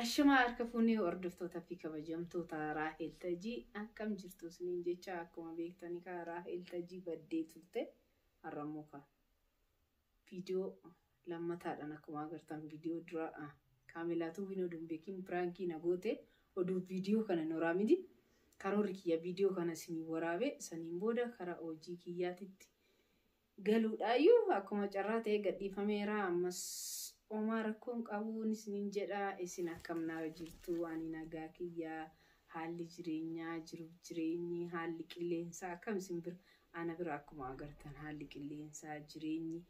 Ashamaa harka fuunee hordoftoota fi kabajamtoota Raahel Tajii akkam jirtu isiniin jecha akkuma beektani kaa Raahel Tajii baddee turte har'a immoo kaa viidiyoo lammataadhaan akkuma agartan viidiyoo dura kaamilaatuu hin oduun beekin piraankii na goote oduu viidiyoo kana noraa miti karoorri kiyya viidiyoo kana isinii waraabe saniin booda karaa hojii kiyyaatitti galuudhaayyuu akkuma carraa ta'ee gadhiifameera ammas omaa rakkoon qabuu isiniin jedha isin akkam naara jirtuu ani nagaa kiyyaa haalli jireenyaa jiruuf jireenyi haalli qilleensaa akkam isin bira ana bira akkuma agartan haalli qilleensaa jireenyi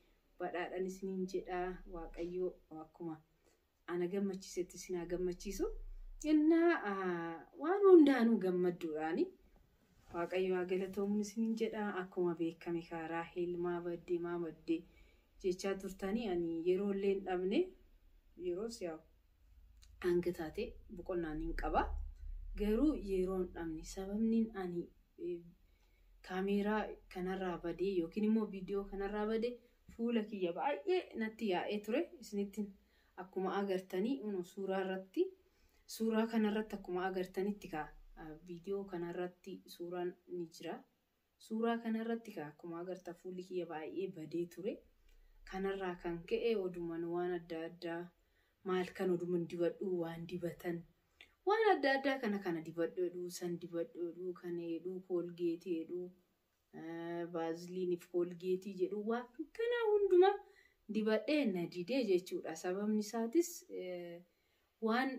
badhaadhan isiniin jedha waaqayyoo akkuma ana gammachiisetti isin haa gammachiisu. Innaa waan hundaanuu gammadduudhaani. Waaqayyo haa galatoomuun isiniin jedha. Akkuma beekame kaa Raahel maa badde maa badde jechaa turtanii ani yeroo illee hin dhabne yeroo si'a hanga taate boqonnaan hin qaba. Garuu yeroo hin dhabne sababniin ani kaameeraa kanarraa badee yookiin immoo viidiyoo kanarraa bade Fuula kiyya baay'ee natti yaa'ee ture isinittin akkuma agartanii uno suuraa irratti suuraa kana irratti akkuma agartanitti ka viidiyoo kana irratti suuraan ni jira suuraa kana irratti ka akkuma agarta fuulli kiyya baay'ee badee ture kanarraa kan ka'e oduman waan adda addaa maal kan oduman dibadhuu waan dibatan waan adda addaa kana kana dibadhoodhuu san dibadhoodhuu kan heedhuu koolgeetii heedhuu Vaaziliinii fi koolgeetii jedhu waan kanaa hundumaa dibadhee na didee jechuudha. Sababni isaatis waan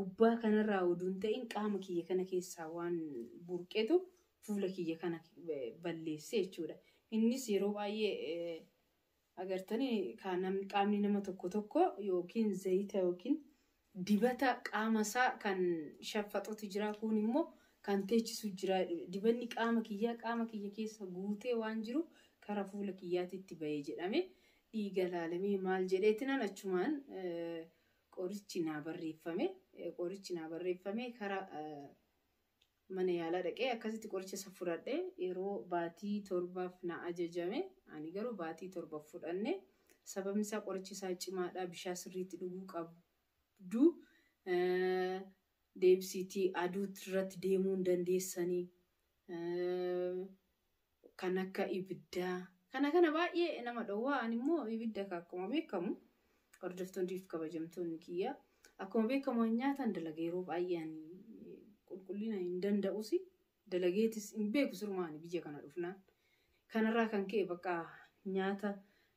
gubbaa kanarraa oduu hin ta'in qaama kiyya kana keessaa waan burqetu fuula kiyya kana balleesse jechuudha. Innis yeroo baay'ee Agartani kaa namni qaamni nama tokko tokko yookiin zayita yookiin dibata qaama isaa kan shaffaxutu jira kuun immoo kan teechisu jira jedhu dibanni qaama kiyyaa qaama kiyya keessa guutee waan jiru kara fuula kiyyaatitti ba'e jedhame dhiiga laalamee maal jedheetinan achumaan qorichi naa barreeffame qorichi naa barreeffame kara Mana yaalaa dhaqee akkasitti qoricha san fudhadhe. Yeroo baatii torbaaf na ajajame. Ani garuu baatii torba hin fudhanne. Sababni isaa qorichi isaa cimaadha. Bishaan sirriitti dhuguu qabdu. Deebisiitii aduu irratti deemuu hin dandeessanii. kan akka ibiddaa kana kana baay'ee nama dhowwaa ani immoo ibidda ka akkuma beekamu hordoftoonni fi kabajamtoonni kiyya akkuma beekamu an nyaataan dalaga yeroo baay'ee ani qulqullina hin danda'usi dalageetis hin beeku sirumaa ani biyya kana dhufnaan kanarraa kan ka'e bakka nyaata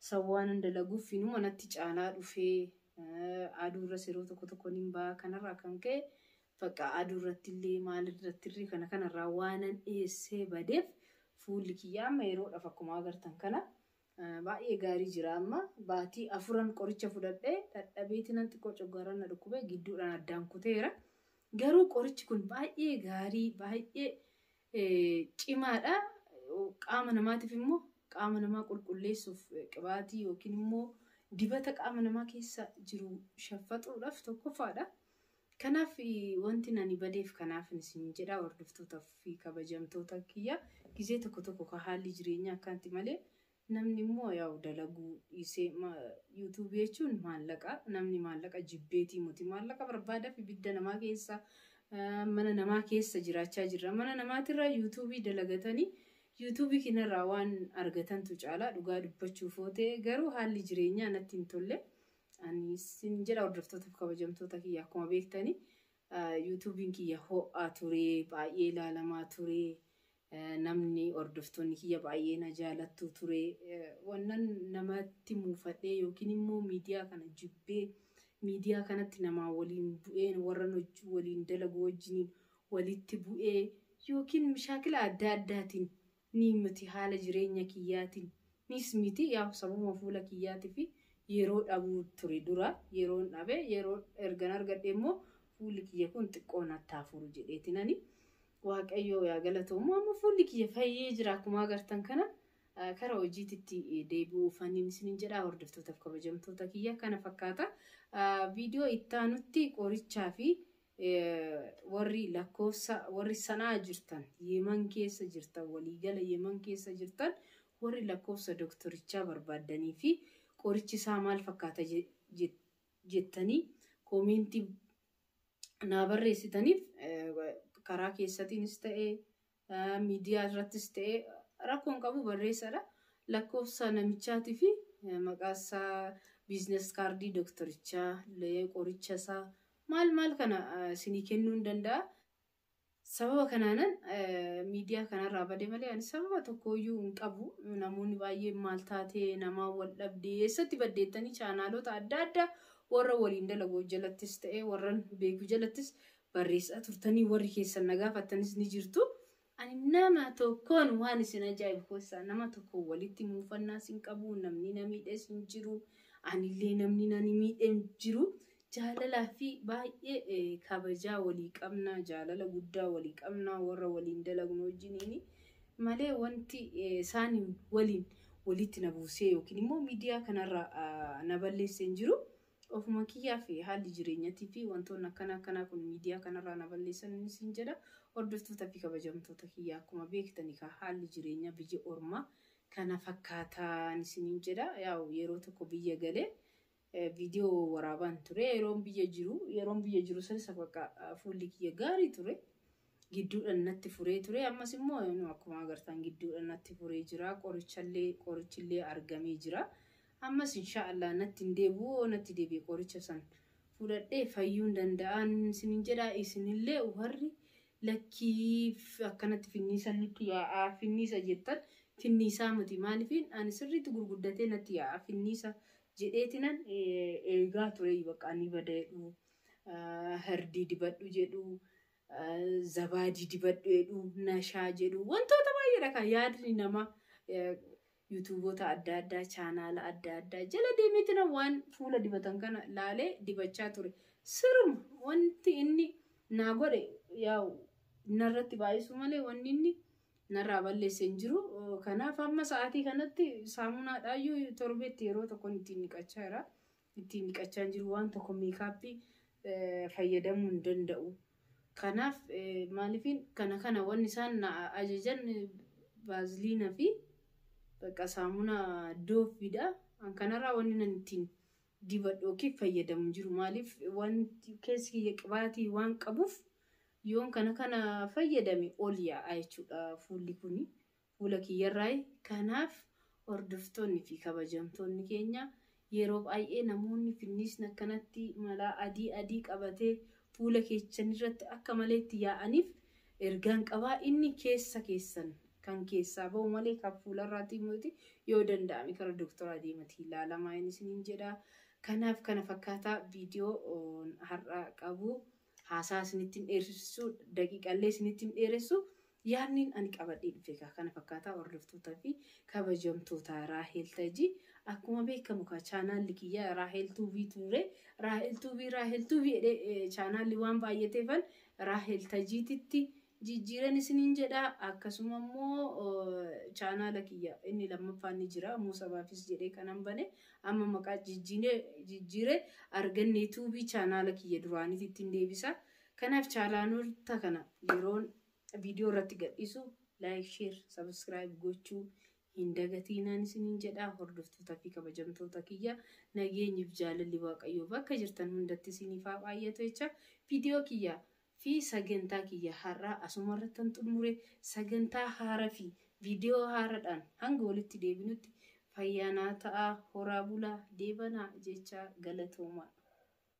sawwaanan dalaguuf inuma natti caalaa dhufee eh, aduurras yeroo tokko tokko nin ba'a kanarraa kan ka'e Bakka aduurrattillee maalirrattirree kana kanarraa waanan dhiyeessee badeef fuulli kiyya amma yeroodhaaf akkuma agartan kana baay'ee gaarii jira amma baatii afuran qoricha fudhadhee dhadhabeetinan xiqqoo coggaaraan na dhukkubee gidduudhaan addaan kuteera garuu qorichi kun baay'ee gaarii baay'ee cimaadha qaama namaatiif immoo qaama namaa qulqulleessuuf qibaatii yookiin immoo dibata qaama namaa keessa jiru shaffaxuudhaaf tokkoffaadha Kanaaf wantin ani badeef kanaafin isiniin jedha hordoftoota fi kabajamtoota kiyya gizee tokko tokko ka haalli jireenyaa akkanti malee namni immoo yaa'u dalaguu dhiisee youtube jechuun maallaqa namni maallaqa jibbeetii muti maallaqa barbaadaf ibidda namaa keessa mana namaa keessa jiraachaa jirra mana namaatirraa youtube dalagatanii youtube kinarraa waan argatantu caalaa dhugaa dubbachuuf ootee garuu haalli jireenyaa natti hin tolle Ani sin jedha hordoftootaaf kabajamtoota kiyya akkuma beektani yuutuubiin kiyya ho'aa ture baay'ee ilaalamaa ture namni hordoftoonni kiyya baay'ee na jaalattu ture wannan namatti muufadhee yookiin immoo miidiyaa kana jibbee miidiyaa kanatti namaa waliin bu'een warran hojii waliin dalagu wajjiniin walitti bu'ee yookiin mishaakila adda addaatiin ni miti haala jireenya kiyyaatiin niis miti yaa'u sababuma fuula kiyyaatifi yeroo dhabuu ture dura yeroon dhabe yeroo ergan argadhe immoo fuulli kiyya kun xiqqoo natti haa furu jedheetinani waaqayyoo yaa galatoomu amma fuulli kiyya fayyee jira akkuma agartan kana kara hojiititti deebi'uu fanniin isinin jedhaa hordoftootaf kabajamtoota kiyya kana fakkaata viidiyoo ittaanutti qorichaa fi Warri lakkoofsa warri sanaa jirtan yeeman keessa jirtan waliigala yeeman keessa jirtan warri lakkoofsa doktorichaa barbaaddanii fi qorichi isaa maal fakkaata jettanii koomeentii naa barreessitaniif karaa keessatiinis ta'ee Miidiyaa irrattis ta'e rakkoo hin qabu barreessadha. Lakkoofsa namichaatii fi maqaa isaa biizines kaardii doktorichaa, qoricha isaa maal maal kana isinii kennuu hin danda'a. Sababa kanaanan miidiyaa kanarraa bade malee ani sababa tokkooyyuu hin qabu. Namoonni baay'een maal taatee namaa wal dhabdee eessatti baddeettanii chaanaalota adda addaa warra waliin dalagu jalattis ta'e warran beeku jalattis barreessaa turtanii warri keessan na gaafattanis ni jirtu. Ani nama tokkoon waan isin ajaa'ibu keessaa nama tokko walitti muufannaas hin qabu namni na miidhes hin jiru anillee namni na miidhe hin jiru jaalalaa fi baay'ee eh, kabajaa walii qabna jaalala guddaa walii qabna warra waliin dalagnu wajjiniin malee wanti eh, isaaniin waliin walitti na buusee yookiin immoo miidiyaa kanarra ah, na balleesse hin jiru. Ofuma kiyyaaf haalli jireenyatii fi wantoonni akkana akkanaa kun miidiyaa kanarraa na balleessan isin jedha. Hordoftoota fi kabajamtoota kiyyaa akkuma beektan egaa haalli jireenyaa biyya ormaa kana fakkaataan isiniin jedha. Yaa'u yeroo tokko biyya galee viidiyoo waraabaan ture. Yeroon biyya jiru yeroon biyya jiru sanis bakka fuulli kiyya gaarii ture. Gidduudhan natti furee ture ammas immoo eno akkuma agartaan gidduudhan natti furee jira qorichallee qorichillee argamee jira ammas inshaa Allah natti hin deebi'u yoo natti deebi'e qoricha san fudhadhee fayyuun danda'aan isinin jedhaa isinillee warri lakkii f- akkanatti finniisan nutti yaa'aa finniisa jettan finniisaa miti maalifiin ani sirriitti gurguddatee natti yaa'aa finniisa jedheetinan eh, eegaa ture bakka ni bada jedhu ah, hardii dibadhu jedhu zabaadii dibadhu jedhu, nashaa jedhu, wantoota baay'eedha kan yaadni nama yuutuuboota adda addaa, chaanaala adda addaa jala deemeetina waan fuula dibatan kana laalee dibachaa ture. Siruma wanti inni naa godhe yaa'u narratti baay'isu malee wanni inni narraa balleesse hin jiru. Kanaaf amma sa'aatii kanatti saamunaadhaayyuu torbeetti yeroo tokkoon ittiin dhiqachaa jira. ittiin dhiqachaa hin jiru waan tokko meekaappii fayyadamuu hin danda'u. Kanaaf maaliifin kana kana wanni isaan na ajajan baaziliina fi bakka saamuna dooffiidha. An kanarraa wanni nan ittiin dibadhu yookiin fayyadamu jiru maaliif wanti keessi kiyya qibaatii waan qabuuf yoon kana kana fayyadame ol yaa'a jechuudha fuulli kuni. Fuula kiyyarraayi. Kanaaf hordoftoonni fi kabajamtoonni keenya yeroo baay'ee namoonni finniisni akkanatti malaa adii adii qabatee fuula keechanirratti akka malee itti yaa'aniif ergaan qaba. Inni keessa keessan kan keessaa bahu malee kan fuularraatii miti. Yoo danda'ame kara doktoraa deematii ilaalamaa in isiniin jedha. Kanaaf kana fakkaataa viidiyoon har'a qabu. Haasaa isinitti hin dheersisuu, daqiiqaallee isinitti hin dheeressu. Yaadniin ani qabadhee dhufe egaa kana fakkaataa hordoftootaa fi kabajamtoota Raahel Tajii akkuma beekamu kaa chaanaalli kiyya Raahel Tuubii ture. Raahel Tuubii Raahel Tuubii jedhee chaanaalli waan baay'ateefan Raahel Tajiititti jijjiiran isiniin jedha akkasuma immoo chaanaala kiyya inni lammaffaan ni jira immoo sabaafis jedhee kanan bane amma maqaa jijjiine jijjiire arganne tuubii chaanaala kiyya duraanitti ittiin deebisa kanaaf chaalaanoota kana yeroon viidiyoo irratti gadhiisu laayik sheer sabiskiraayib gochuu hin dagatiinaan isiniin jedha hordoftoota fi kabajamtoota kiyya nageenyiif jaalalli waaqayyoo bakka jirtan hundatti isiniif haa baay'atu jecha viidiyoo kiyya fi sagantaa kiyya har'aa asumarrattan xummure sagantaa haara fi video haaradhaan hanga walitti deebinutti fayyaa naa ta'aa horaa bulaa deebanaa jechaa galatoomaa.